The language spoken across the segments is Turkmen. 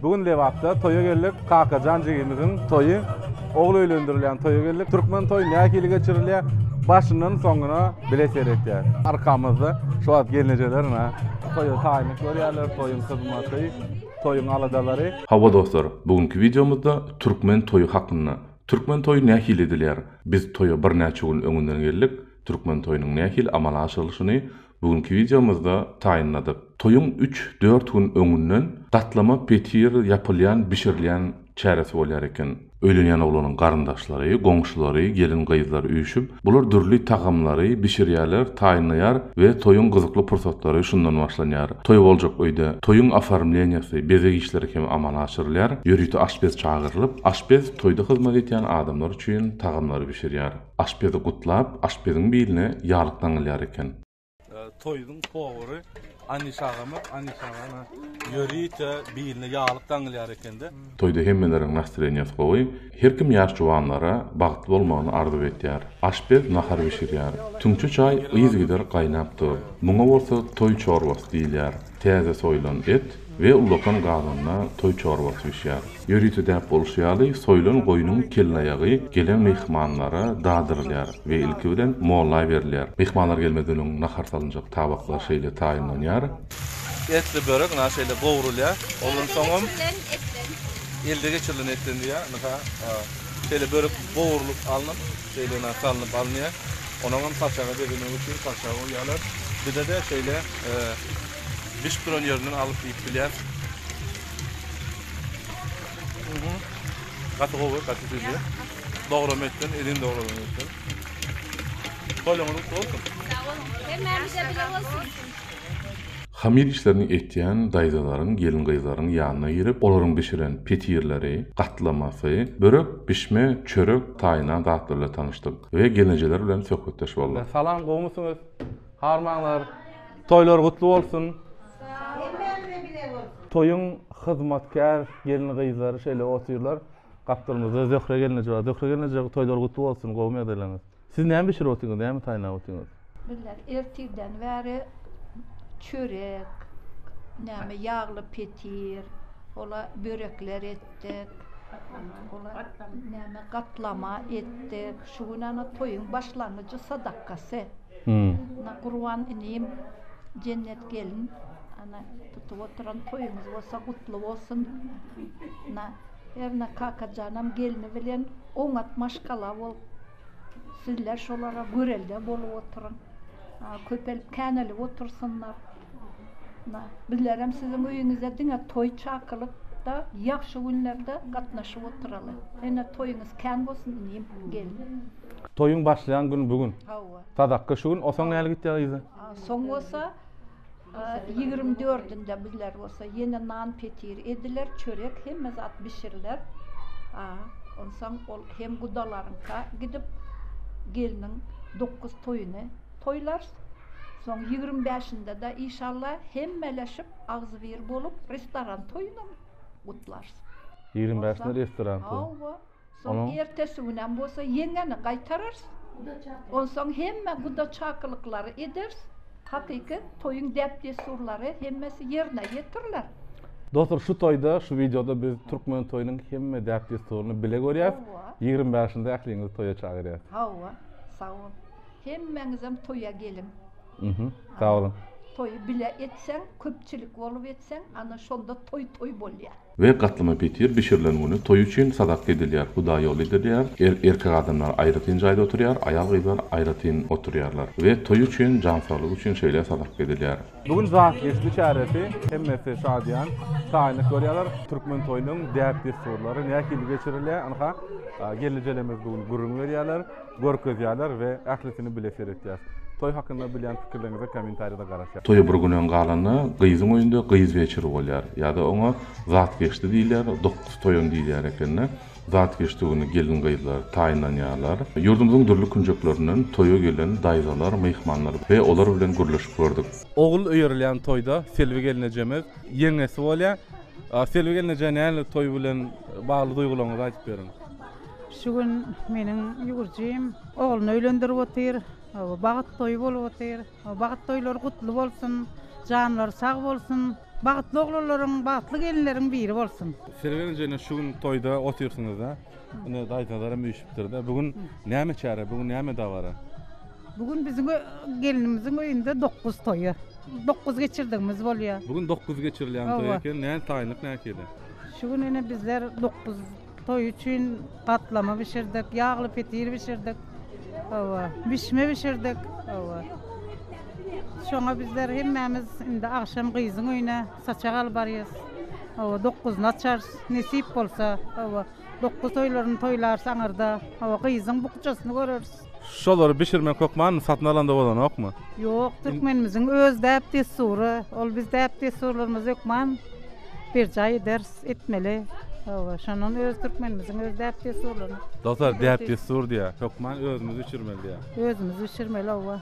Bu gün Lebapda toýa geldik. Kakajan jigimiziň toýy. Ogul öýlendirilýän toýa geldik. Türkmen toýy nähili geçirilýär? Başyndan soňuna bile seretýäs. Arkamyzda şu wagt gelnejeler ine toýa taýynlyk görýärler, toýuň hyzmaty, toýuň aladalary. Hawa dostlar, bu günki wideomyzda türkmen toýy hakynda. Türkmen toýy nähili edilýär? Biz toýa birnäçe gün öňünden geldik. Türkmen toýunyň nähili amala aşyrylyşyny, Bu günki wideomyzda taýynladyk. Toýuň üç, dört gün öňünden gatlama petir ýapylýan, bişirilýän çäresi bolýar eken. Öýlenýän oglanyň garyndaşlary, goňşulary, gelin-gyzlar üýşüp, bular dürli tagamlary bişirýärler, taýynlaýar we toýuň gyzykly pursatlary şundan başlanýar. Toý boljak öýde toýuň oformleniýasy, bezeg işleri hem amala aşyrylýar. Ýörite aşpez çagyrylyp, aşpez toýda hyzmat etýän adamlar üçin tagamlary bişirýär. Aşpezi gutlap, aşpeziň biline ýalyk daňylýar eken. Toýuň powary Anyş agama, Anyş agana ýörite biline ýalyk daňylýar eken-de. Toýda hemmeleriň nastreniýasy gowy. Her kim ýaş juwanlara bagtly bolmagyny arzuw etýär. Aşpez nahar bişirýär. Tüňçe çaý yzygider gaýnap dur. Muňa bolsa toý çorbasy diýilýär. Täze soýlan et we ulakan gazanda toý çorbasy bişýär. Ýörite däp bolşy ýaly, soýlan goýnuň kelleaýagy gelen myhmanlara dadyrylýar we ilki bilen molla berilýär. Myhmanlar gelmezden öň nahar salynjak tabaklar şeýle taýynlanýar. Etli börek ynha şeýle gowrulýar. Ondan soňam elde geçirilen etden diýýär. Ynha şeýle börek gowrulyp alnyp. Şeýle-ne salnyp alynýar. Onuňam saçaga bezemek üçin saçaga goýýarlar. Bize-de şeýle bişip duran ýerinden alyp iýip bilýäris. Gaty gowy, gaty süýji. Dograma etdim, edin dogralan etdim. Tolýoňyz gutly bolsun. Sag boluň. Hemmämize bile bolsun. Hamyr işlerini etýän daýzalaryň, gelin-gyzlaryň ýanyna girip, olaryň bişiren petirleri, gatlamasy, börek, bişme, çörek, taýynan zatlar bilen tanyşdyk we gelnejeler bilen söhbetdeş bolduk. Salam, gowmysyňyz? Harmanlar, toýlar gutly bolsun! Sag boluň! Hemmämize bile bolsun! Toýuň hyzmatkär gelin-gyzlary şeýle otyrlar. Gapdalymyzda Zöhre gelneje bar. Zöhre gelneje, toýlar gutly bolsun, gowy megerleriňiz! Siz näme bişirip otyňyz, näme taýynlap otyňyz? Billah, ertirden bäri çörek, näme ýagly petir, ola börekler etdik. Ola näme gatlama etdik. Şu gün ana toýuň başlangyjy sadakasy. Ana Gurban inim, Jennet gelin, ana tutup oturan toýuňyz bolsa gutly bolsun. Ana Erna Kakajanam gelni bilen oňat maşgala bolup, sizler şolara görelde bolup oturyň. Köpelip känelip otursynlar. Bizlerem siziň öýüňize diňe toý çakylykda, ýagşy günlerde gatnaşyp oturaly. Ene toýuňyz kän bolsun inim, gelin. Toýuň başlaýan güni bu gün. Hawa. Sadakga şu gün, o soň näle gitýär yza? Soň bolsa Ýigrimi dördünde bizler bolsa ýene nan-petir ediler, çörek, hemme zat bişiriler. A, onsoň ol hem gudalaryňka gidip, gelniň dokuz toýuny toýlarys. Soň ýigrimi bäşinde-de, işalla, hemmeleşip, agzybir bolup, restoran toýunam gutlarys. Ýigrimi bäşinde restoran toýy? Hawa. Soň ertesi günem bolsa ýeňňeni gaýtararys. Onsoň hemme guda-çakylyklary ederis. Hakyky toýuň däp-dessurlary hemmesi ýerine ýetiriler. Dostlar şu toýda şu wideoda biz türkmen toýunyň hemme däp-dessuryny bile görýäs. Ýigrimi bäşinde ähliňizi toýa çagyrýas. Hawa, sag bol. Hemmeňizem toýa geliň. Mhm. Sag boluň. Toýy bile etseň, köpçülik bolup etseň, ana şonda toý toý bolýar. We gatlama petir bişirilen güni toý üçin sadak gedilýär, hudaý ýoly edilýär, er-erkek adamlar aýratyn jaýda oturýar, aýal-gyzlar aýratyn oturýarlar we toý üçin, jansaglyk üçin şeýle sadak gedilýär. Bu gün zat geçdi çäresi, hemmesi şadyýan, şaýynyk görýärler. Türkmen toýunyň däp-dessurlary nähili geçirilýär, ynha, gelnejelerimiz bu gün gürrüň berýärler. Görkezýärler we ählisini bile seretýäs. Toý hakynda bilýän pikirleriňize kommentariýada garaşýas. Toýa bir gün öň galanda gyzyň öýünde gyz weçiri bolýar. Ýa-da oňa zat geçdi diýilýär, dokuz toýun diýilýär ekeni. Zat geçdi güni gelin-gyzlar taýynlanýarlar. Ýurdumyzyň dürli künjeklerinden toýa gelen daýzalar, myhmanlar we olar bilen gürleşip gördük. Ogul öýerilýän toýda Selbi gelnejemiz ýeňňesi bolýar. Selbi gelneje nähili toý bilen bagly duýgularyňyzy aýdyp beriň. Şu gün meniň ýüwürjim ogluny öýlendirip otyr. Bagt toýy bolup otyr. Bagt toýlary gutly bolsun. Janlary sag bolsun. Bagtly oglanlaryň, bagtly gelinleriň biri bolsun. Siz birinji ine şu gün toýda otyrsyňyz-da. Ine daýzalar hem üýşüpdir-de. Bu gün näme çäre? Bu gün näme dabara? Bu gün biziň gelinimiziň öýünde dokuz toýy. Dokuz geçirdigimiz bolýar. Bu gün dokuz geçirilýän toý eken. Nädip taýynlyk nähili? Şu gün ine bizler dokuz Toý üçin gatlama bişirdik, ýagly petir bişirdik. Hawa, bişme bişirdik. Hawa. Şoňa bizler hemmämiz indi agşam gyzyň öýüne saçak alyp barýarys. Hawa, dokguzyny açarys, nesip bolsa. Hawa, dokuz toýlaryny toýlarys aňyrda. Hawa, gyzyň bukjasyny göreris. Şolary bişirmek hökman satyn alanda bolanokmy? Ýok, türkmenimiziň öz däp-dessury, ol biz däp-dessurlarymyzy hökman berjaý ederis, etmeli. Hawa, şondan öz türkmenimiziň öz däp-dessurlaryny. Dostlar, däp-dessur diýýär, hökman özümiz bişirmeli diýýär. Özümiz bişirmeli, hawa.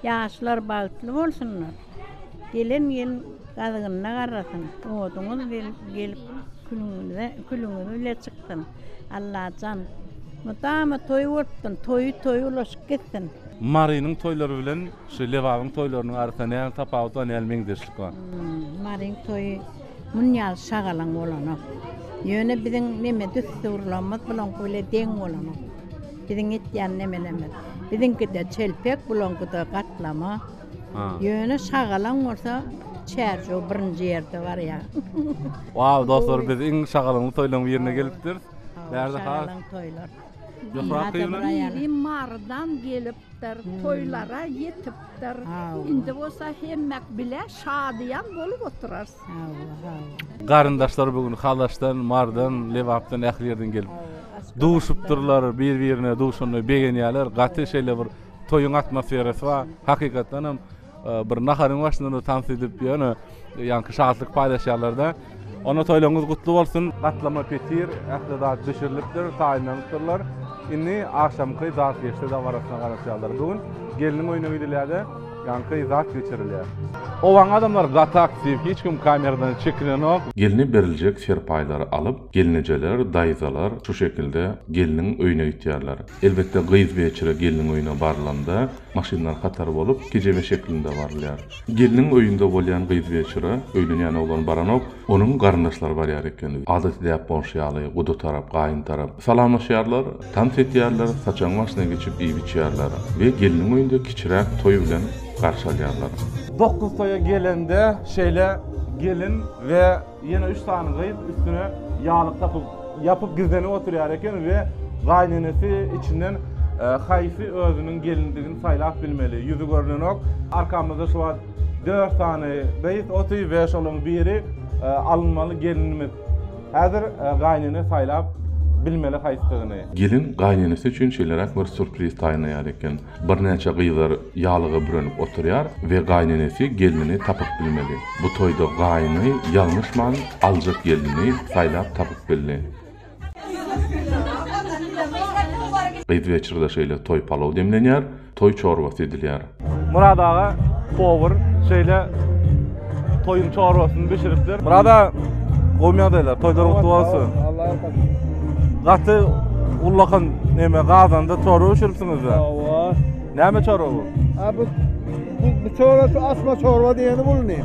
Ýaşlar bagtly bolsunlar, gelen ýyl gazygynda garrasyn, oduňyz gelip külüňiz bile çyksyn. Allajan, mydama toý bolup dursun, toýy toýy ulaşyp gitsin. Marynyň toýlary bilen şu Lebabyň toýlarynyň arasynda nähili tapawut bar, nähili meňzeşlik bar? Maryň toýy muny ýaly şagalaň bolanok. Ýöne biziň neme düsturlarymyz bulaňky bile deň bolanok. Biziň etýän nemelerimiz. Biziňkide çelpek, bulaňkyda gatlama. Ýöne şagalaň bolsa çärjew birinji ýerde barýar. Waw dostlar biz iň şagalaňly toýlaryň birine gelipdiris. Bärde has. Şagalaň toýlar. Ýokary toýlar. Biri Marydan gelipdir, toýlara ýetipdir. Indi bolsa hemmek bile şadyýan bolup oturarys. Garyndaşlar bu gün Halaşdan, Mardan, Lebapdan ähli ýerden gelip duşupdyrlar, bir-birine duşanyna begenýärler. Gaty şeýle bir toýuň atmosferasy bar. Hakykatdan hem e, bir naharyň başynda tans edip ýöne ýaňky şatlyk paýlaşýarlar-da. Ona toýlaryňyz gutly bolsun. Gatlama petir, ähli zat bişirilipdir, taýynlanypdyrlar. Indi agşamky zat geçdi dabarasyna garaşýarlar. Bu gün gelniň öýüne gidilýär-de, Ýaňky zat geçirilýär. Owaň adamlar gaty aktiw, hiç kim kameradan çekinenok. Gelne beriljek serpaýlary alyp, gelnejeler, daýzalar şu şekilde gelniň öýüne gitýärler. Elbetde gyz weçire gelniň öýüne barylanda, maşynlar hatar bolup, kejebe şeklinde barylýar. Gelniň öýünde bolýan gyz weçire, öýlenýän oglan baranok. Onuň garyndaşlary barýar eken. Adaty däp bolşy ýaly, guda tarap, gaýyn tarap. Salamlaşýarlar, tans edýärler, saçagyň başyna geçip iýip-içýärler we gelniň öýünde kiçiräk toý bilen garşy alýarlar. Dokuz toýa gelende şeýle gelin we ýene üç sany gyz üstüne ýalyk tapyp, ýapyp gizlenip oturýar eken we gaýynenesi içinden haýsy özüniň gelindigini saýlap bilmeli. Ýüzi görnenok. Arkamyzda şu wagt Dört sany gyz oty we şolaryň biri alynmaly gelinimiz. Häzir gaýynene saýlap bilmeli haýsydygyny. Gelin gaýynenesi üçin şeýleräk bir surpriz taýynlaýar eken. Birnäçe gyzlar ýalyga bürenip oturýar we gaýynenesi gelnini tapyp bilmeli. Bu toýda gaýyny ýalňyşman aljak gelnini saýlap tapyp bildi. Gyz weçrede şeýle toý palaw demlenýär, toý çorbasy edilýär. Murad aga powar şeýle toýuň çorbasyny bişiripdir. Murad aga gowy ýagdaýlar, toýlar gutly bolsun. Gaty ullakan neme gazanda çorba bişiripsiňizda. Hawa. Näme çorba bu? A bu bu çorba şu asma çorba diýeni bul indi.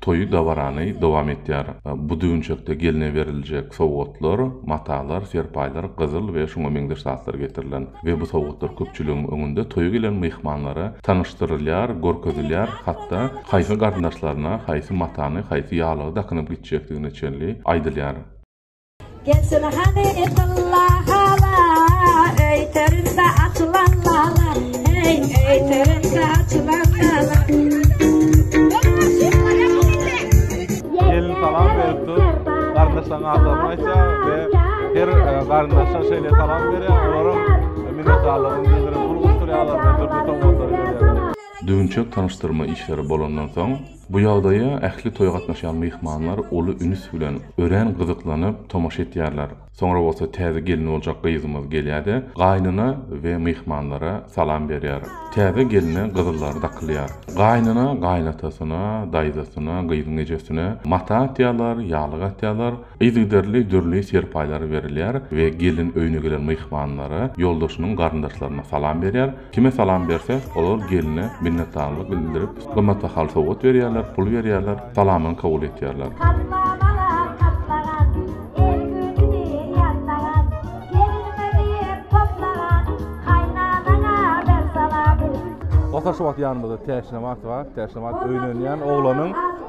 Toýy dabarany dowam etýär. Bu düwünçekde gelne beriljek sowgatlar, matalar, serpaýlar, gyzyl we şuňa meňzeş zatlar getirilen we bu sowgatlar köpçüligiň öňünde toýa gelen myhmanlara tanyşdyrylýar, görkezilýär, hatda haýsy garyndaşlaryna haýsy matany, haýsy ýaglygy dakynyp gitjekdigine çenli aýdylýar. Gelsene hany ytylla hala, öyterinde açılan lala, hey, öyterinde açılan lala. Gelin salam beripdi, gardaşlaryň atlaryny aýtýar we her e, gardaşa şeýle salam berýär, olaryň e, minnetdarlygyny bildirip, pul gutdurýarlar we dürli sowgatlar berýärler. Düwünçek tanyşdyrma işleri bolandan soň, Bu ýagdaýa ähli toýa gatnaşýan myhmanlar uly üns bilen, örän gyzyklanyp tomaşa etýärler. Soňra bolsa täze gelin boljak gyzymyz gelýär-de, gaýnyna we myhmanlara salam berýär. Täze gelne gyzyllary dakylýar. Gaýnyna, gaýynatasyna, daýzasyna, gyzyň ejesine mata atýarlar, ýaglyk atýarlar. Yzygiderli dürli serpaýlar berilýär we gelin öýüne gelen myhmanlara, ýoldaşynyň garyndaşlaryna salam berýär. Kime salam berse, olar gelne minnetdarlyk bildirip, gymmatbahaly sowgat berýärler, pul berýärler, salamyny kabul etýärler. Basar şu wagt ýanymyzda täşli nabat bar, täşli nabat öýlenýän oglanyň.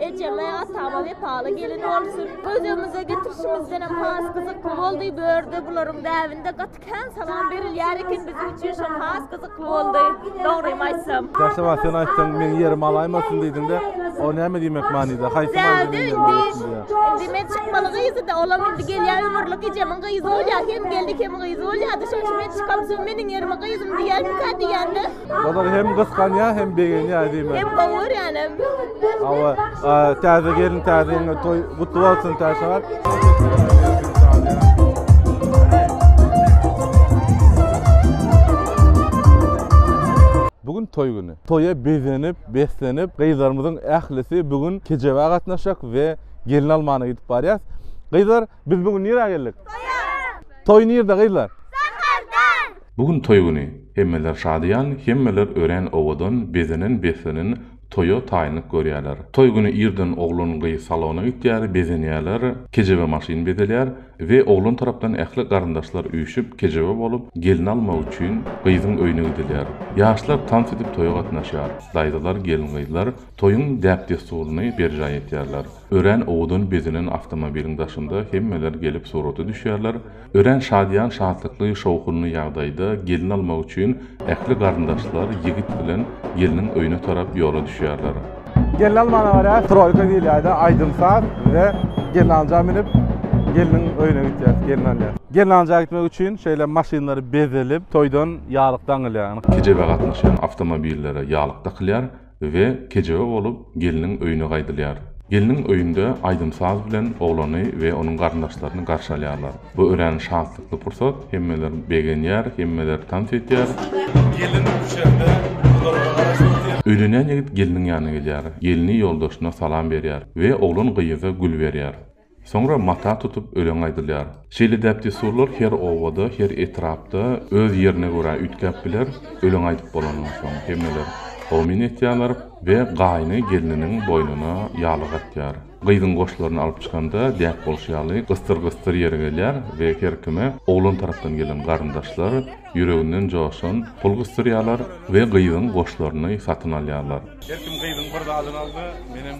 Ejeme, atama wepaly gelin bolsun. Öz öýümize getirişimizden hem has gyzykly boldy. Bu ýerde bularyň däbinde gaty kän salam berilýär eken. Biziň üçin şol has gyzykly boldy. Dogrymy aýtsam. Käşe wagt sen aýtsaň, meň ýerim alaýmasyn diýdiň-de, o näme diýmek manyda? Haýsy manyda meň ýerim alaýmasyn diýýär? Indi men çykmaly gyzydy, olam indi gelýär ömürlik ejemiň gyzy bolýar. Hem geldik, hem gyzy bolýardy. Şonuň üçin men çykam, soň meniň ýerime gyzym diýersikä diýende. Bazar hem gysganýar hem begenýär diýme. Hem gowy görýän hem. Awa, täze gelin täze ýene toý gutly bolsun täşe. gün toý güni. Toýa bezenip, beslenip, gyzlarymyzyň ählisi bu gün kejebä gatnaşjak we gelin almana gidip barýas. Gyzlar, biz bu gün nirä geldik? Toýa! Toý nirde gyzlar? Sakarda! Bu gün toý güni. Hemmeler şadyýan, hemmeler örän owadan, bezenen-beslenen, toýa taýynlyk görýärler. Toý güni irden oglan-gyz salona gitýär, bezenýärler, kejebe maşyn bezelýär we oglan tarapdan ähli garyndaşlar üýşüp, kejebe bolup, gelni almak üçin, gyzyň öýüne gidilýär. Ýaşlar tans edip toýa gatnaşýar. Daýzalar, gelin-gyzlar toýuň däp-dessuryny berjaý etýärler. Örän owadan bezenen awtomobiliň daşynda hemmeler gelip surata düşýärler. Örän şadyýan-şatlykly, şowhunly ýagdaýda gelin almak üçin ähli garyndaşlar ýigit bilen gelniň öýüne tarap ýola düşýärler. Gelin almana gara troýka diýilýärdi, aýdym-saz we gelnanja münüp, gelniň öýüne gitýär, gelni alýar. Gelnanja gitmek üçin şeýle maşynlar bezelip, toýdan ýalyk daňylýar. Kejebe gatnaşýan awtomobillere ýalyk dakylýar. we kejebe bolup gelniň öýüne gaýdylýar. Gelniň öýünde aýdym-saz bilen oglany we onuň garyndaşlaryny garşy alýarlar. Bu örän şatlykly pursat, hemmeler begenýär, hemmeler tans edýär. Gelin düşende gyzlaryň arasynda sen. Öýlenýän ýigit gelniň ýanyna gelýär, gelni ýoldaşyna salam berýär we oglan gyýza gül berýär. Soňra mata tutup öleň aýdylýar. Şeýle däp-dessurlar her obada, her etrapda öz ýerine görä üýtgäp biler, öleň aýdyp bolandan soň, hemmeler Amin aýtýarlar we gaýyny gelniniň boýnuna ýalyk atýar. Gyzyň goşlaryny alyp çykanda, däp bolşy ýaly, gysdyr-gysdyr ýere gelýär we her kime oglan tarapdan gelen garyndaşlar ýüreginden joşan pul gysdyrýarlar we gyzyň goşlaryny satyn alýarlar. Her kim gyzyň bir zadyny aldy, menem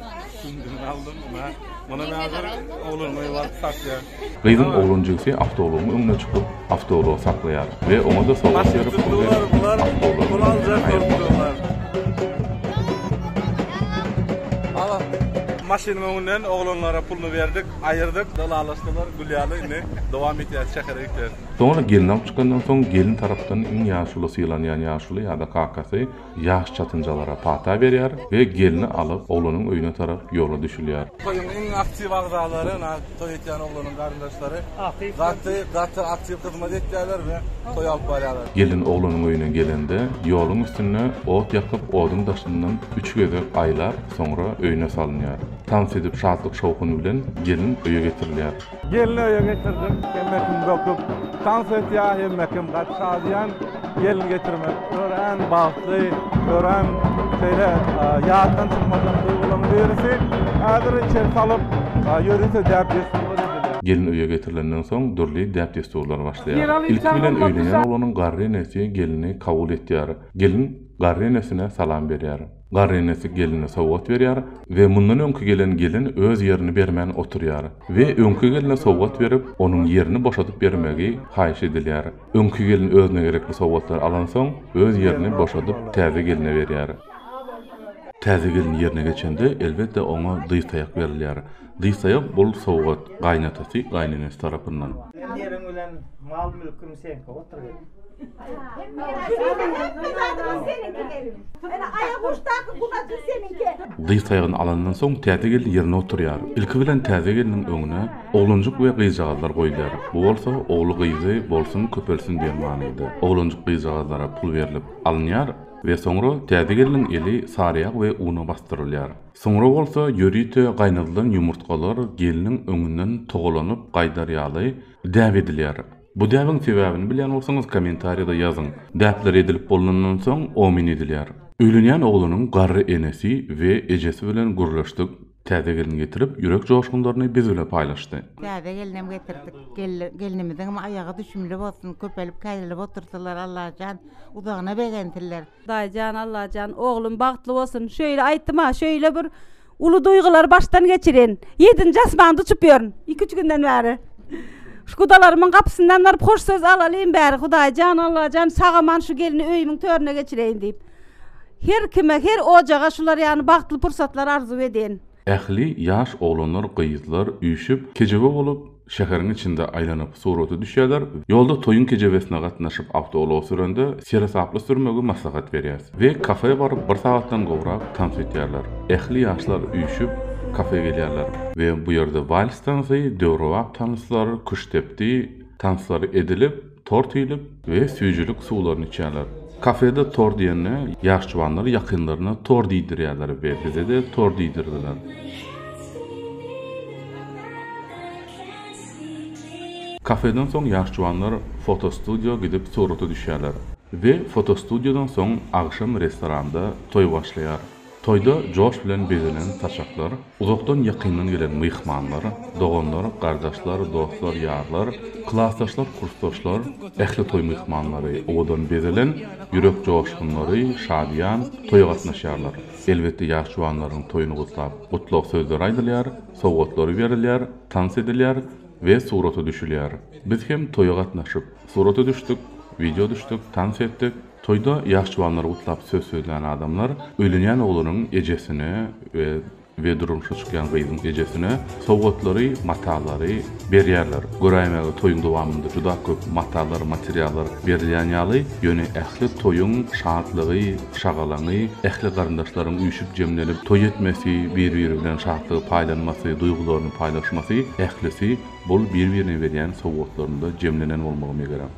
Gyzyň oglan jigisi awtoulagyň öňüne çykyp, awtoulagy saklaýar we oňa-da sowgat berip, pul berip, awtoulagy ondan aýyrmaýar. Soňra gelni alyp çykandan soň, gelin tarapdan iň ýaşuly, sylanýan ýaşuly ýa-da kakasy, Ýaş çatynjalara pata berýär we gelni alyp, oglanyň öýüne tarap ýola düşülýär. Toýuň iň aktiw agzalary, nagt toý etýän oglanyň garyndaşlary gaty, gaty aktiw hyzmat etýärler we toý alyp barýarlar. Gelin oglanyň öýüne gelende, ýoluň üstünde ot ýakyp, oduň daşyndan üç gezek aýlap, soňra öýüne salynýar. Tans edip, şatlyk-şowhun bilen gelin öýe getirilýär. Gelni öýe getirdim, hemmekim dokup, tans etýär, hemmekim gaty şadyýan. Gelin getirmek örän bagtly, örän şeýle ýatdan çykmajak duýgularyň birisi. Häzir içeri salyp, ýörite däp-dessur Gelin öýe getirilenden soň dürli däp-dessurlar başlaýar. Ilki bilen öýlenýän oglanyň garry enesi gelini kabul etýär. Gelin garry enesine salam berýär. Garrynesi gelne sowgat berýär we mundan öňki gelen gelin öz ýerini bermän oturýar we öňki gelne sowgat berip, onuň ýerini boşadyp bermegi haýyş edilýär. Öňki gelin özüne gerekli sowgatlary alansoň, öz ýerini boşadyp täze gelne berýär. Täze gelin ýerine geçende, elbetde, oňa dyz-taýak berilýär. Diýsaýa bol sowgat gaýynatasy gaýynenesy tarapyndan. Hem ýeriň bilen mal mülküm seňki otur gelin. Diýsaýany alandan soň täze gelin ýerine oturýar. Ilki bilen täze gelniň öňüne oglanjyk we gyzjagazlar goýulýar. Bu bolsa ogly gyzy bolsun köpelsin diýen manyda. Oglanjyk gyzjagazlara pul berlip alynýar we soňra täze gelniň eli saryýag we una basdyrylýar. Soňra bolsa ýörite gaýnadylan ýumurtgalar gelniň öňünden togalanyp gaýdar ýaly däp edilýär. Bu däbiň sebäbini bilýän bolsaňyz kommentariýada ýazyň. Däpler edilip bolnandan soň omyn edilýär. Öýlenýän oglanyň garry enesi we ejesi bilen gürleşdik, täze gelni getirip ýürek joşgunlaryny biz bile paýlaşdy. Täze gelinem getirdik. Gelnimiziňem aýagy düşümli bolsun, köpelip-käýrelip otursylar Allajan, uzagyna begensinler. Daýyjan Allajan oglum bagtly bolsun şöýle aýtdyma şöýle bir uly duýgylary başdan geçirin ýedinji asmanda uçup ýörün iki üç günden bäri şu gudalarymyň gapysyndan baryp hoş söz alalyn bäri hudaýjan Allajan sag aman şu gelni öýümiň törüne geçireýin diýip her kime her ojaga şular ýaly bagtly pursatlar arzuw edin. Ähli ýaş oglanlar gyzlar üýşüp kejebe bolup Şäheriň içinde aýlanyp surata düşýärler. Ýolda toýuň kejebesine gatnaşyp awtoulag sürende seresaply sürmegi maslahat berýäs. We kafä baryp bir sagatdan gowrak tans etýärler. Ähli ýaşlar üýşüp kafä gelýärler. We bu ýerde wals tansy, döwrebap tanslar, küştdepdi tanslary edilip, Tort iýlip we süýjülik suwlaryny içýärler. Kafede tort iýende ýaş juwanlar ýakynlaryna tort iýdirýärler we bize-de tort iýdirdiler. Kafeden soň ýaş juwanlar fotostudiýa gidip surata düşýärler we fotostudiýadan soň agşam restoranda toý başlaýar. Toýda joş bilen bezelen saçaklar, uzakdan-ýakyndan gelen myhmanlar, doganlar, gardaşlar, dostlar, ýarlar, klasdaşlar, kursdaşlar, ähli toý myhmanlary, owadan bezelen, ýürek joşgunlary, şadyýan, toýa gatnaşýarlar. Elbetde, ýaş juwanlaryň toýuny gutlap, gutlag sözleri aýdylýar, sowgatlary berilýär, tans edilýär we surata düşülýär. Biz hem toýa gatnaşyp, surata düşdük, wideo düşdük, tans etdik. Toýda ýaşjuwanlary gutlap söz sözlän adamlar öýlenýän oglunyň ejesine we durmuşa çykýan gyzyň ejesine sowgatlary, matalary berýärler. Göräýmäge toýuň dowamynda juda köp matalar, materiallar berilýän ýaly, ýöne ähli toýuň şatlygy, şagalaňy, ähli garyndaşlaryň üýşüp-jemlenip toý etmesi, bir-biri bilen şatlygy paýlanmasy, duýgularyny paýlaşmasy, ählisi bul bir-birine berýän sowgatlarynda jemlenen bolmagy megerem.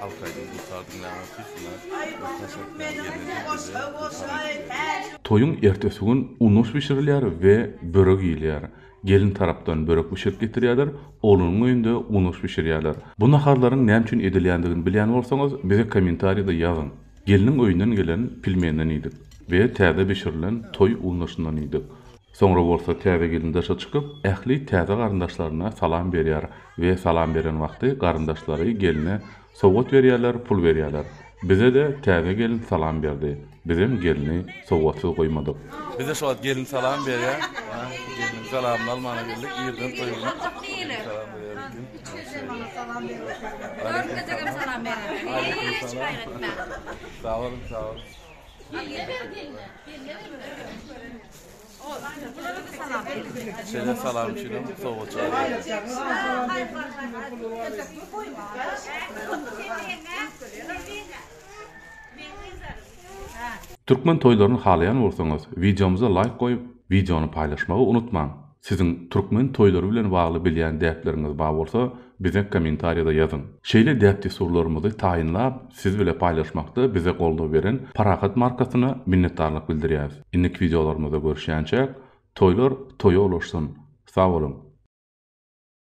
Halk aýdym gursa diňläň ol tüýsüne bir taş atýan gelneje bize ylham edýär. Toýuň ertesi gün unos bişirilýär we börek iýilýär. Gelin tarapdan börek bişirip getirýärler, oglunyň öýünde unos bişirýärler. Bu naharlaryň näme üçin edilýändigini bilýän bolsaňyz bize kommentariýada ýazyň. Gelniň öýünden gelen pilmenden iýdik we täze bişirilen toý unosyndan iýdik. Soňra bolsa täze gelin daşa çykyp, ähli täze garyndaşlaryna salam berýär we salam beren wagty garyndaşlary gelne sowgat berýärler, pul berýärler. Bize-de täze gelin salam berdi. Bizem gelni sowgatsyz goýmadyk. Bize şu wagt gelin salam berýär. Gelniň salamyny almana geldik. Irden toý gurmak gelin salam berýär diýip. Üç ýyl hem olar salam berýär. Görünmejegem salam berýär. Aleýkum salam. Sag boluň, sag boluň. Gelne ber gelne. Gelne ber. Sene salam üçinem sowgat jazýarys. Türkmen toýlaryny halaýan bolsaňyz wideomyza laýk goýup wideony paýlaşmagy unutmaň. Siziň türkmen toýlary bilen bagly bilýän däpleriňiz bar bolsa bize kommentariýada ýazyň. Şeýle däp-dessurlarymyzy taýynlap siz bile paýlaşmakda bize goldaw beren Parahat markasyna minnetdarlyk bildirýäs. Indiki wideolarymyzda görüşýänçäk, toýlar toýa ulaşsyn! Sag boluň!